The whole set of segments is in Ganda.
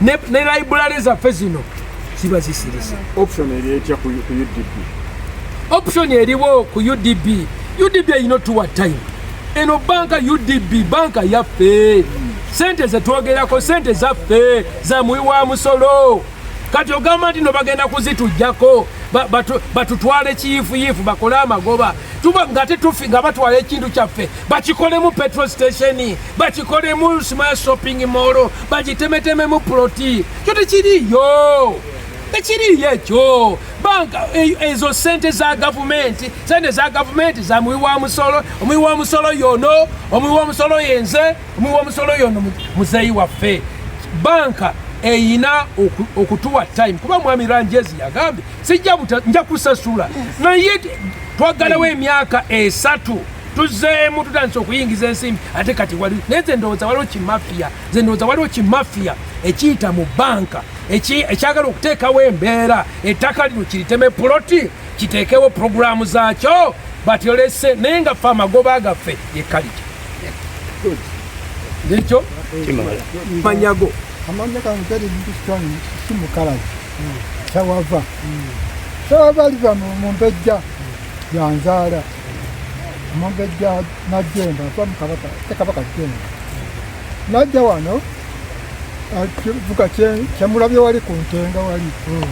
ne, ne library zaffe zino ziba zisirisa option eri etya ku udb option eriwo ku udb udb erina otuwa time eno banka udb banka yaffe sente zetwogerako sente zaffe za muwi wa musolo kati ogamba nti no bagenda kuzitujjako batutwale kiyifuyifu bakole amagoba tuba ngate tufi nga batwala ekintu kyaffe bakikolemu petro station bakikolemu smile shopping mall bagitemetememu ploti kyo tekiriyo tekiriyo ekyo banka e, ezo sente za gavumenti sente za gavumenti za muwi wa musolo omuwi wa musolo yono omuwi wa musolo yenze omuwi wa musolo yono muzeyi waffe banka eyina okutuwa time kuba mwami ranjezi yagambye sijja nja kusasula naye twagalawo emyaka esatu e tuzeemu tutandise okuyingiza ensimbi ate kati wali naye nze ndowooza waliwo kimafiya nze ndowooza waliwo kimafiya ekiyita mu banka ekyagala okuteekawo embeera ettaka lino kiriteme puloti kiteekewo puroguramu zaakyo batyolese naye nga fe amagoba gaffe yekaliki nekyo manyago amanya kange gari bintu kitwani si mukalazi sawava sawava aliva mu mpejja yanzaala omumbejja najjemba nva mukabaka te kabaka jjemba najja wano kivuga kyemulabye wali ku ntenga wali hmm.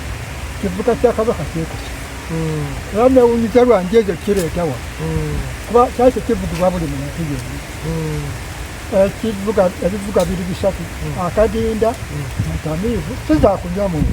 kivuga kya kabaka kyekusi hmm. era newunyiza lwanji ekyo kireetawa hmm. kuba kyali tekivugibwa buli muntu yoni ekivuga ebivuga biri bisatu akadinda mutamiivu sizakunywa muntu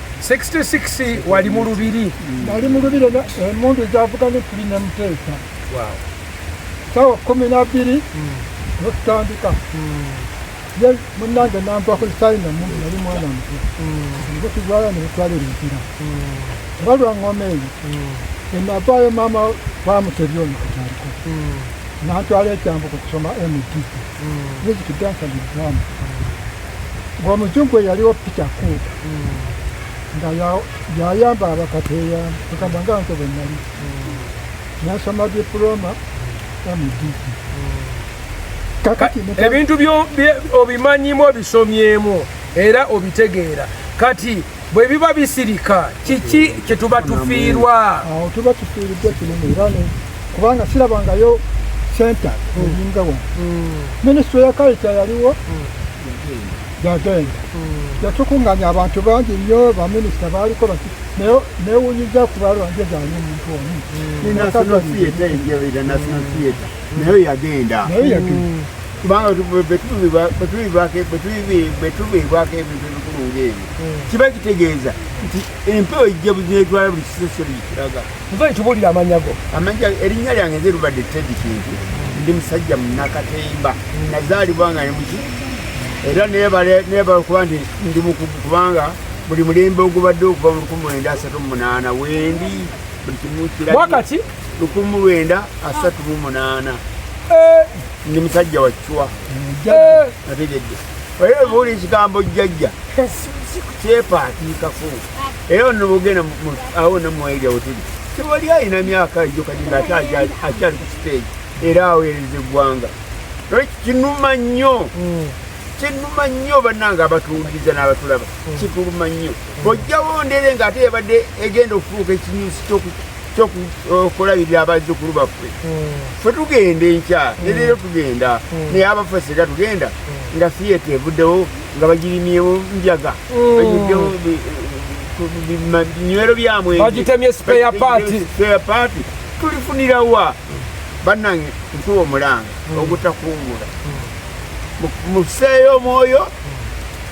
66 wali mu lubiri nali mu lubiri emundu zavuga ne kuli ne muteesa sawa kumi nabiri hmm. nokutandika hmm. ye munange nampako sayina mu nali mwana muto ngotugwala hmm. nebutwala ebimpira oba lwangoma eyo enavaayo maama bamutebyona kutandika nantwala ekyambo kukusoma mdp Bweziti dansa ni drama. Wa mujungwe yaliwo picha kuta. Nga ya ya yamba abakateya tukabanga nko benali. Ya sama diploma ya mudiki. Kakati ebintu byo obimanyimu obisomyemu era obitegeera kati bwe biba bisirika kiki kye tuba tufiirwa tuba tufiiriddwa kinene era kubanga sirabangayo senta olinga wa minisitule ya kalita yaliwo yagenda yatukunganya abantu bangi nnyo baminisita baaliko newunyiza kubalwa nje zange omuntu omu national theatre national theatre nayo yagenda nayo yagenda kubanga bwetubiibwako ebintu ebikulu ngaebyo hmm. kiba kitegeeza nti empewo ejja buzinetwala buli kisesero gikiraga nva ekibulira amanyago amanya erinnya lyange nze lubadde tedi kintu ndi musajja munakatemba hmm. nazaalibwa nga nemuki era nebala okuba nti ndi mukugu kubanga buli mulembe ogubadde okuva mu lukumi lwenda asatu mumunana wendi buli kimu kirabwakati lukumu lwenda asatu mu munaana eh. ndi musajja wakiwa eh. nategedde oye obuuli ekigambo jjajja eh. kyepaatiikako era ono bogenda awo namwairya wotuli tewali alina myaka ejo kati nga ate akyali ku siteegi era aweereza eggwanga kinuma nnyo hmm. kinuma nnyo bannange abatuwuliriza n'abatulaba hmm. kituluma nnyo bojjawo ndere nga ate yabadde egenda okufuuka ekinyusi kyoku kyokulabirira abazzukulu baffe hmm. fe tugenda enkya hmm. nereero tugenda hmm. naye abaffe sega tugenda nga siyete evuddewo nga bagirimyewo njaga banyuddewo binywero byamwebagitemye spare party spare party tulifunira wa bannange ntuwa omulanga ogutakuumula museeyo omwoyo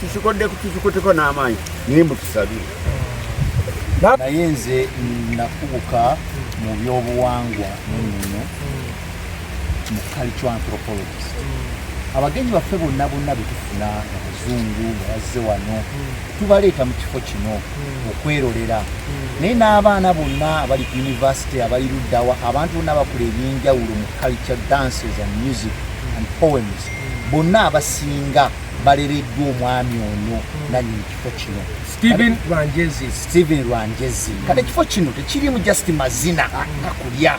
tukikodde tukikuteko n'amaanyi naye mutusabire naye nze nakubuka mu byobuwangwa munono mu culture anthropologist abagenyi baffe bonna bonna betufuna abazungu nga bazze wano tubaleeta mu kifo kino okwerolera naye n'abaana bonna abali ku univesity abali luddawa abantu bonna bakula ebyenjawulo mu culture dances and music and poems bonna abasinga balereddwa omwami ono nanyini kifo kino steven rwanjezi steven rwanjezi kati ekifo kino tekirimu just mazina akulya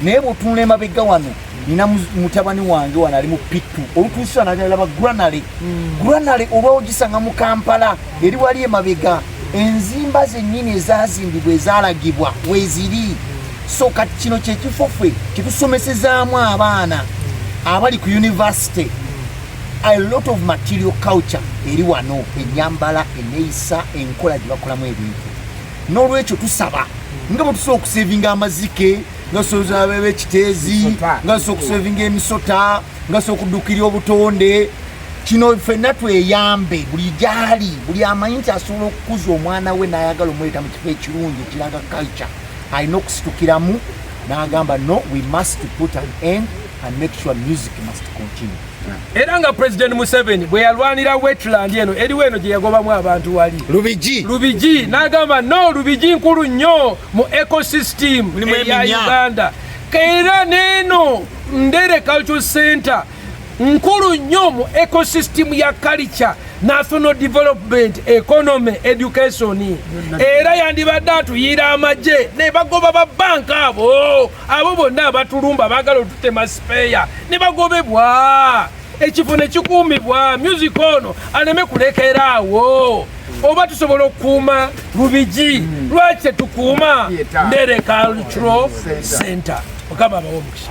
naye bwotunula emabega wano nina mutabani wange wano ali mu pitu olutuusa nalaba granale hmm. granale oba ogisanga mu kampala eri wali emabega enzimba zennyini ezazimbibwa ezalagibwa weziri so kati kino kyekifo ffe kyetusomesezaamu abaana abali ku univesity a lot of material culture eri wano enyambala eneyisa enkola gyebakolamu ebintu nolwekyo tusaba nga bwetusobola okusevinga amazike nga tusobola bebe ekiteezi nga tusobola okusevinga emisota nga tusobola okudukira obutonde kino fenna tweyambe buli gyali buli amanyi nti asobola okukuza omwana we nayagala omuleeta mu kifo ekirungi ekiraga culture alina okusitukiramu nagamba no we must put an end and make sure music must continue. Era nga President Museveni bwe yalwanira wetland eno eriwo eno gye yagobamu abantu wali Lubigi Lubigi n'agamba no Lubigi nkulu nnyo mu ecosystem eya Uganda era neeno Ndere Cultural Center nkulu nnyo mu ecosystem ya culture national development economy education era yandibadde atuyira amagye ne bagoba ba banka abo abo bonna abatulumba baagala otutema sipeeya ne bagobebwa ekifo ne kikuumibwa music ono aleme kulekera awo oba tusobola okukuuma lubigi hmm. lwaki tetukuuma ndereka cultural center mukama abawo omukisa